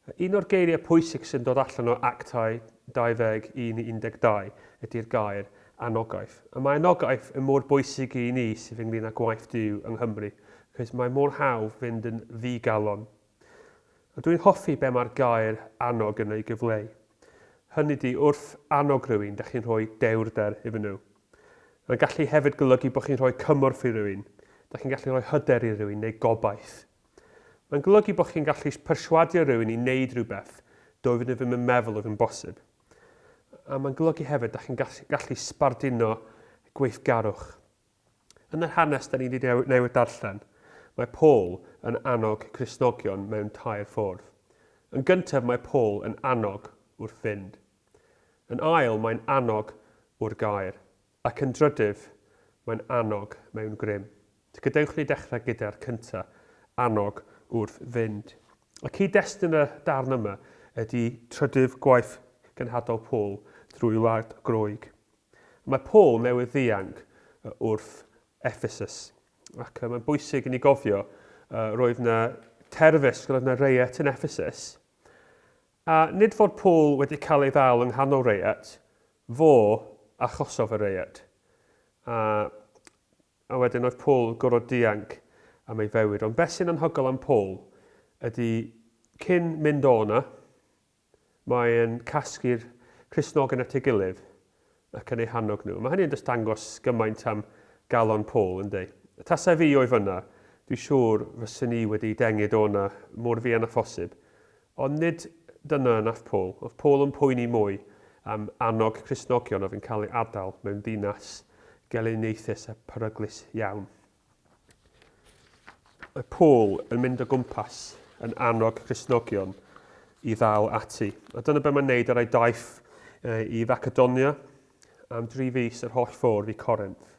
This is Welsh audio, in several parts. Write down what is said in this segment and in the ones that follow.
Un o'r geiriau pwysig sy'n dod allan o Actau 21 i 12 ydy'r gair 'anogaeth'. A mae anogaeth yn mor bwysig i ni sydd ynglŷn â gwaith Duw yng Nghymru, achos mae mor hawdd fynd yn ddi-galon. A dwi'n hoffi be mae'r gair 'annog' yn ei gyfleu. Hynny ydy, wrth annog rhywun, da chi'n rhoi dewrder iddyn nhw. Mae'n gallu hefyd golygu bod chi'n rhoi cymorth i rywun, da chi'n gallu rhoi hyder i rywun neu gobaith. Mae'n golygu bod chi'n gallu perswadio rhywun i wneud rhywbeth doedd nhw ddim yn meddwl oedd yn bosib. A mae'n golygu hefyd da chi'n gallu sbarduno gweithgarwch. Yn yr hanes da ni wedi newid darllen, mae Paul yn annog Cristnogion mewn tair ffordd. Yn gyntaf mae Paul yn annog wrth fynd. Yn ail mae'n annog wrth gair. Ac yn drydyf, mae'n annog mewn grym. Gadewch ni ddechrau gyda'r cyntaf, annog wrth fynd. Y cyd-destun y darn yma ydy trydydd gwaith cenhadol Paul drwy wlad Groeg. Mae Paul newydd ddianc wrth Ephesus, ac mae'n bwysig i ni gofio, roedd na terfysg, roedd na reiet yn Ephesus, A nid fod Paul wedi cael ei ddal yng nghanol reiet, fo achosodd y reiet. A, a wedyn oedd Paul yn gorfod dianc am ei fywyd. Ond beth sy'n anhygol am Paul ydy cyn mynd o yna, mae'n casglu'r Cristnogion at ei gilydd ac yn eu hannog nhw. Mae hynny yn just dangos gymaint am galon Paul, yndi? Tase fi o'i fynna, dwi siŵr fyswn i wedi dengu Dona mor fuan â phosib. Ond nid dyna wnaeth Paul. Oedd Paul yn poeni mwy am annog Cristnogion oedd yn cael ei adael mewn dinas gelyniaethus a pheryglus iawn. Mae Paul yn mynd o gwmpas yn annog Cristnogion i ddal ati. A dyna beth mae'n neud ar ei daith i Facedonia am dri fus yr holl ffordd i Corinth.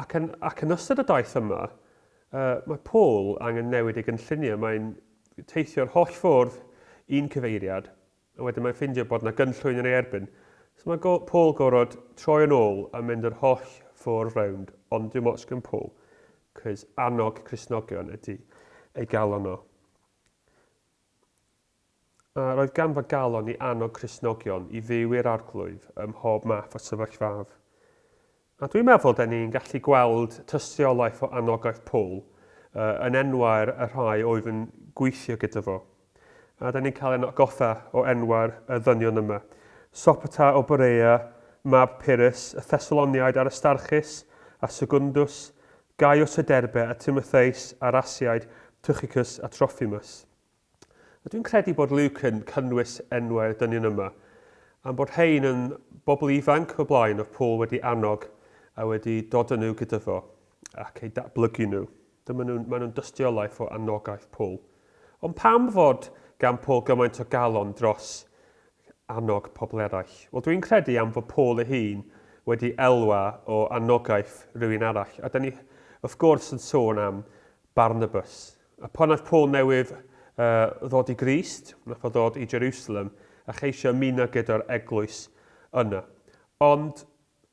Ac yn, ac yn ystod y daith yma, uh, mae Paul angen newid ei gynlluniau. Mae'n teithio'r holl ffordd i'n cyfeiriad A wedyn mae'n ffindio bod 'na gynllwyn yn ei erbyn. So mae go- Paul gorod troi yn ôl a mynd yr holl ffordd rownd, ond dim ots gen Paul, 'cos annog Cristnogion ydi ei galon o. A roedd ganddo galon i annog Cristnogion i fyw i'r Arglwydd ym mhob math o sefyllfaf. A dwi'n meddwl da ni'n gallu gweld tystiolaeth o anogaeth Paul, yn enwau'r y rhai oedd yn gweithio gyda fo. A da ni'n cael ein atgoffa o enwau'r y ddynion yma, Sopater o Berea, mab Pyrrhus, y Thessaloniaid Aristarchus a Segundus, Gaius o Derbe a Timotheus a'r Asiaid, Tychicus a Trophimus. Ydw i'n credu bod Luke yn cynnwys enwau'r dynion yma, am bod rhain yn bobl ifanc o'r blaen oedd Paul wedi annog a wedi dod yn nhw gyda fo ac eu datblygu nhw. Dyma nhw, maen nhw'n dystiolaeth o anogaeth Paul. Ond pam fod gan Paul gymaint o galon dros annog pobl eraill? Wel, dwi'n credu am fod Paul ei hun wedi elwa o anogaeth rhywun arall. A da ni, wrth gwrs, yn sôn am Barnabas. A phan aeth Paul newydd ddod i Grist, nath o ddod i Jerusalem a cheisio ymuno gyda'r eglwys yna. Ond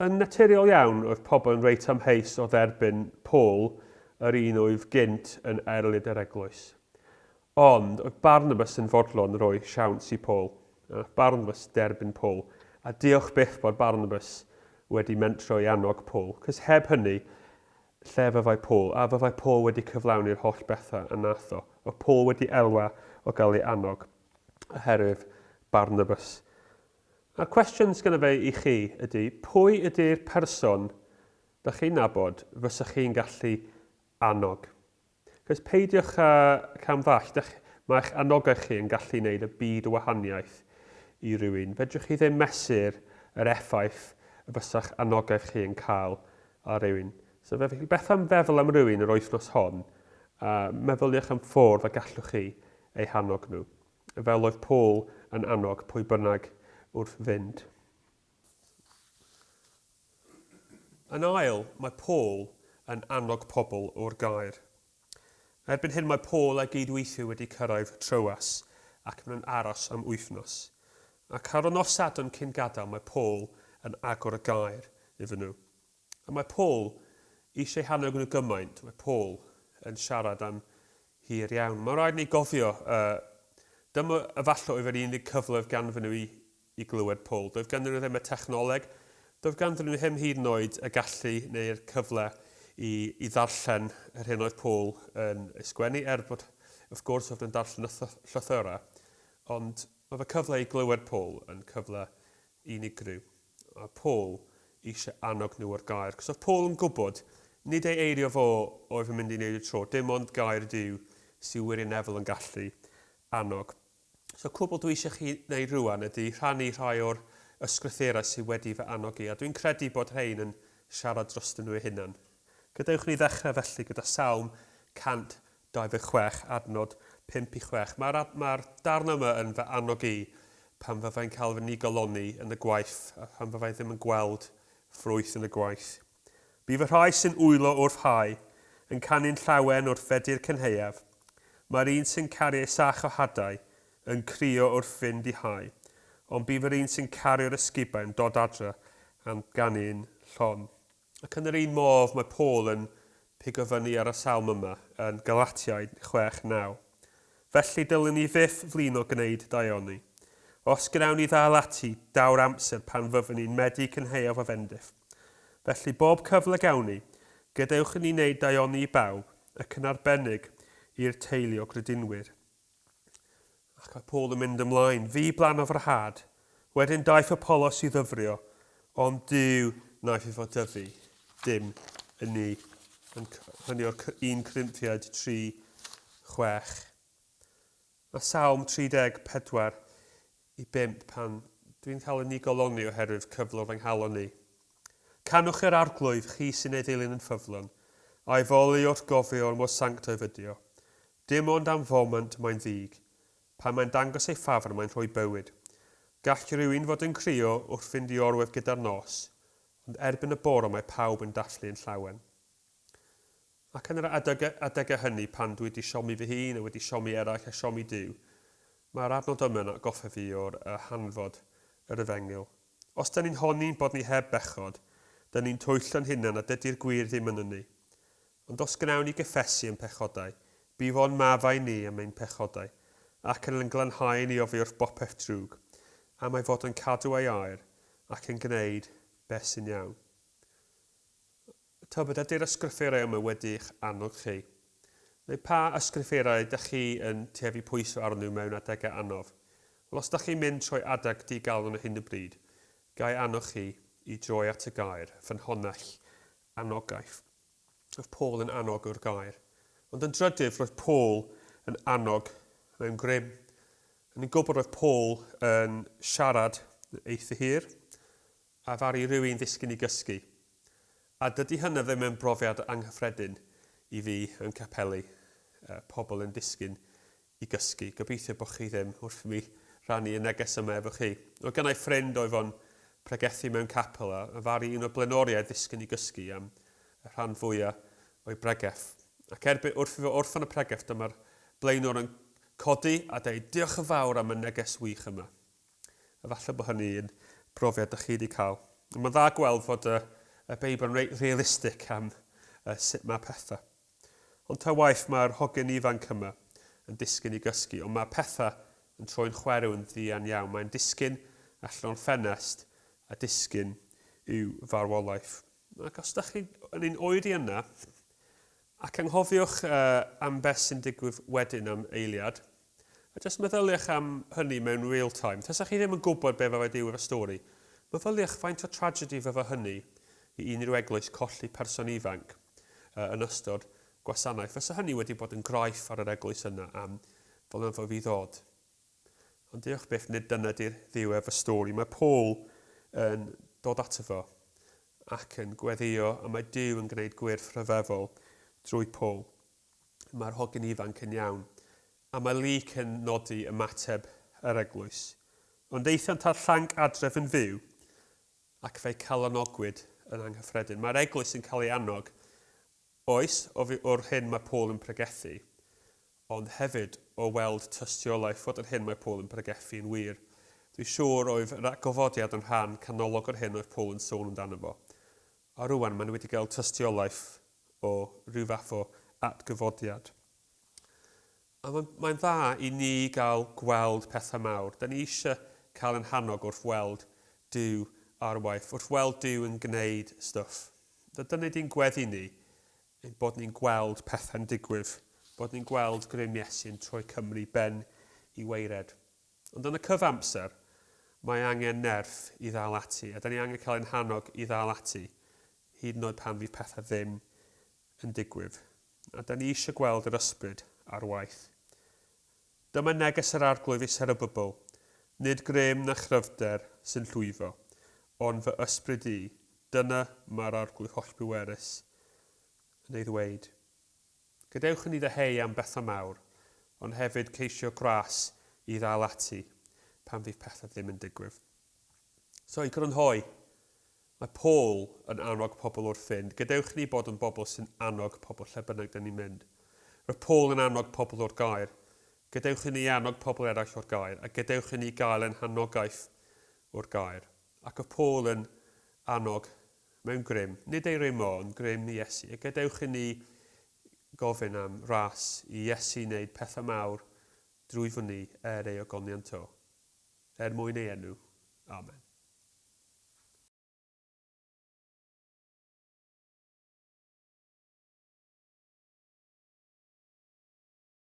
yn naturiol iawn oedd pobl yn reit amheus o dderbyn Paul, yr un oedd gynt yn erlid yr eglwys. Ond oedd Barnabas yn fodlon roi siawns i Paul. A nath Barnabas derbyn Paul. A diolch byth bod Barnabas wedi mentro i annog Paul, cos heb hynny, Lle fyddai Paul? A fyddai Paul wedi cyflawni'r holl bethau y nath o? Oedd Paul wedi elwa o gael ei annog oherwydd Barnabas? A'r cwestiwn sgynno fe i chi ydy, pwy ydy'r person da chi'n nabod fysach chi'n gallu annog? Cys peidiwch â cam ddall, dych, mae'ch anogaeth chi yn gallu neud y byd o wahaniaeth i rywun. Fedrwch chi ddim mesur yr effaith y fysa'ch anogaeth chi yn cael ar rywun. So fe felly, beth am feddwl am rywun yr wythnos hon, a meddyliwch am ffwrdd y gallwch chi eu hannog nhw, fel oedd Paul yn annog pwy bynnag wrth fynd. Yn ail, mae Paul yn annog pobl o'r gaer. Erbyn hyn mae Paul a'i gyd-weithiwr wedi cyrraedd Troas ac maen nhw'n aros am wythnos. Ac ar y nos Sadwrn cyn gadael mae Paul yn agor y gaer iddyn nhw. A mae Paul eisiau hannog nhw gymaint, mae Paul yn siarad am hir iawn. Mae'n rhaid i ni gofio, yy, dyma efallai oedd yr unig cyfle oedd ganddyn nhw i I glywed Paul. Doedd ganddyn nhw ddim y technoleg, doedd ganddyn nhw ddim hyd yn oed y gallu neu'r cyfle i i ddarllen yr hyn oedd Paul yn ei sgwennu, er bod, wrth gwrs, oedd nhw'n darllen y llythyrau. Ond oedd y cyfle i glywed Paul yn cyfle unigryw. Oedd Paul eisiau annog nhw o'r gair, cos oedd Paul yn gwybod, nid ei eirio fo oedd yn mynd i wneud y tro, dim ond gair y Duw sydd wirioneddol yn gallu annog. So cwbl dwi eisiau chi wneud rwan ydy rhannu rhai o'r ysgrythurau sydd wedi fy annog i, a dwi'n credu bod rhein yn siarad drostyn nhw eu hunan. Gadewch ni ddechrau felly gyda Salm 126, adnod 5 i 6. Mae'r ma darn yma yn fy annog i pan fyddai'n cael fy nigoloni yn y gwaith a phan fyddai ddim yn gweld ffrwyth yn y gwaith. Bydd y rhai sy'n wylo wrth hau yn canu'n llawen wrth Fedi'r Cynhaeaf, mae'r un sy'n caru ei sach o hadau yn crio wrth fynd i hau, ond bydd yr un sy'n caru'r ysgubau'n dod adre am ganu'n llon. Ac yn yr un modd mae Paul yn pigo fyny ar y salm yma yn Galatiaid chwech naw, Felly dylwn ni fyth flino gwneud daioni. Os gwnawn ni ddal ati, daw'r amser pan fyddwn ni'n medru cynhaeaf o fendith. Felly, bob cyfle gawn ni, gadewch i ni wneud daioni i bawb, ac yn arbennig i'r teulu o gredinwyr. Ac mae Paul yn mynd ymlaen, Fi blanodd yr had. Wedyn daeth Apollos i ddyfrio, ond Duw naiff i fod dyfu. Dim yn ni. Yn hynny o'r 1 Corinthiaid 3, 6. Mae Salm 34 i bump pan dwi'n cael yn nigoloni oherwydd cyflwr fy nghalon i. Canwch yr Arglwydd, chi sy'n ei ddilyn yn ffyddlon, a'i foli wrth gofio mor sanctaidd ydy o. Dim ond am foment mae'n ddig. Pan mae'n dangos ei ffafr mae'n rhoi bywyd. Gall rywun fod yn crio wrth fynd i orwedd gyda'r nos, ond erbyn y bore mae pawb yn dathlu yn llawen. Ac yn yr adegau hynny pan dwi wedi siomi fy hun a wedi siomi eraill a siomi Duw, mae'r adnod yma yn atgoffa fi o'r hanfod yr efengyl. Os dŷn ni'n honni bod ni heb bechod, dŷn ni'n twyllo'n hunan a dydi'r gwir ddim ynnyn ni. Ond os gnawn ni gyffesu ein pechodau, bu fo'n maddau i ni am ein pechodau, ac yn ein glanhau i ni oddi wrth bopeth drwg, am ei fod yn cadw ei air, ac yn gneud beth sy'n iawn. Tybed ydy'r ysgrythurau yma wedi'ch annog chi? Neu pa ysgrythurau ydych chi yn tyfu pwysau arnyn nhw mewn adegau anodd? Wel, os ydych chi'n mynd trwy adeg di-galon ar hyn o bryd, ga i annog chi i droi at y gair, ffynhonnell anogaeth. Roedd Paul yn annog yw'r gair. Ond yn drydydd, roedd Paul yn annog mewn grym. Yn ein gwybod roedd Paul yn siarad eitha hir, A ddaru rywun ddisgyn i gysgu? A dydy hynna ddim yn brofiad anghyffredin i fi yn capeli, pobl yn disgyn i gysgu. Gobeithio bo chi ddim wrth mi rannu y neges yma efo chi. Oedd gennai ffrind oedd o'n pregethu mewn capel a ddaru un o blaenoriaid ddisgyn i gysgu am y rhan fwya o'i bregeth. Ac erbyn wrth i fo orffan y pregeth dyma'r blaenor yn codi a deud diolch yn fawr am y neges wych yma. Efallai bod hynny yn brofiad dych chi wedi cael. Ond mae'n dda gweld fod y, y Beibl yn reit realistig am uh, sut mae pethau. Ond ta waith mae'r hogyn ifanc yma yn disgyn i gysgu, ond mae pethau yn troi'n chwerw yn ddian iawn. Mae'n disgyn allan o'n ffenest a disgyn i'w farwolaeth. Ac os ydych chi yn ein oed i yna, ac anghofiwch uh, am beth sy'n digwydd wedyn am eiliad, A jyst meddyliwch am hynny mewn real time. Tasa chi ddim yn gwybod be fydde Duw efo stori. Meddyliwch faint o tragedy fydde hynny i unrhyw eglwys colli person ifanc yn ystod gwasanaeth. Fysa hynny wedi bod yn graif ar yr eglwys yna am flynyddoedd i ddod. Ond diolch byth, nid dyna di'r Dduw efo stori. Mae Paul yn dod ato fo ac yn gweddïo, a mae Duw yn gwneud gwyrth rhyfeddol drwy Paul. mae'r hogyn ifanc yn iawn, a mae Luke yn nodi ymateb yr eglwys. Ond aethant â'r llanc adref yn fyw, ac fe'i calonogwyd yn anghyffredin. Mae'r eglwys yn cael ei annog, oes, o'r hyn mae Paul yn pregethu, ond hefyd o weld tystiolaeth fod yr hyn mae Paul yn pregethu yn wir. Dwi'n siŵr oedd yr gofodiad yn rhan canolog o'r hyn oedd Paul yn sôn amdano fo. A rŵan maen nhw wedi cael tystiolaeth o ryw fath o atgyfodiad. A mae'n mae dda i ni gael gweld pethau mawr. Da ni eisiau cael yn hannog wrth weld Dyw ar waith, wrth weld Dyw yn gwneud stwff. Da, dyna di'n gweddi ni, bod ni'n gweld pethau'n digwydd, bod ni'n gweld grym Iesu'n troi Cymru ben i waered. Ond yn y cyfamser, mae angen nerth i ddal ati, a 'da ni angen cael ein hannog i ddal ati, hyd yn oed pan fydd pethau ddim yn digwydd. A 'da ni eisiau gweld yr ysbryd ar waith. Dyma neges yr Arglwydd i Serubabel, Nid grym na chryfder sy'n llwyddo, ond fy ysbryd i, dyna mae'r Arglwydd hollbwerus yn ei ddweud. Gadewch i ni ddeheu am bethau mawr, ond hefyd ceisio gwres i ddal ati pan fydd pethau ddim yn digwydd. So, i grynhoi, mae Paul yn annog pobl wrth fynd. Gadewch i ni bod yn bobl sy'n annog pobl lle bynnag dyn ni'n mynd. Roedd Paul yn annog pobl o'r gair. Gadewch i ni annog pobl eraill o'r gair, a gadewch i ni gael ein hanogaeth o'r gair. Ac oedd Paul yn annog Mae'n grym, nid ei rym o, ond grym i Iesu. A gadewch i ni gofyn am ras i Iesu wneud pethau mawr drwyddon ni er ei ogoniant o, er mwyn ei enw. Amen.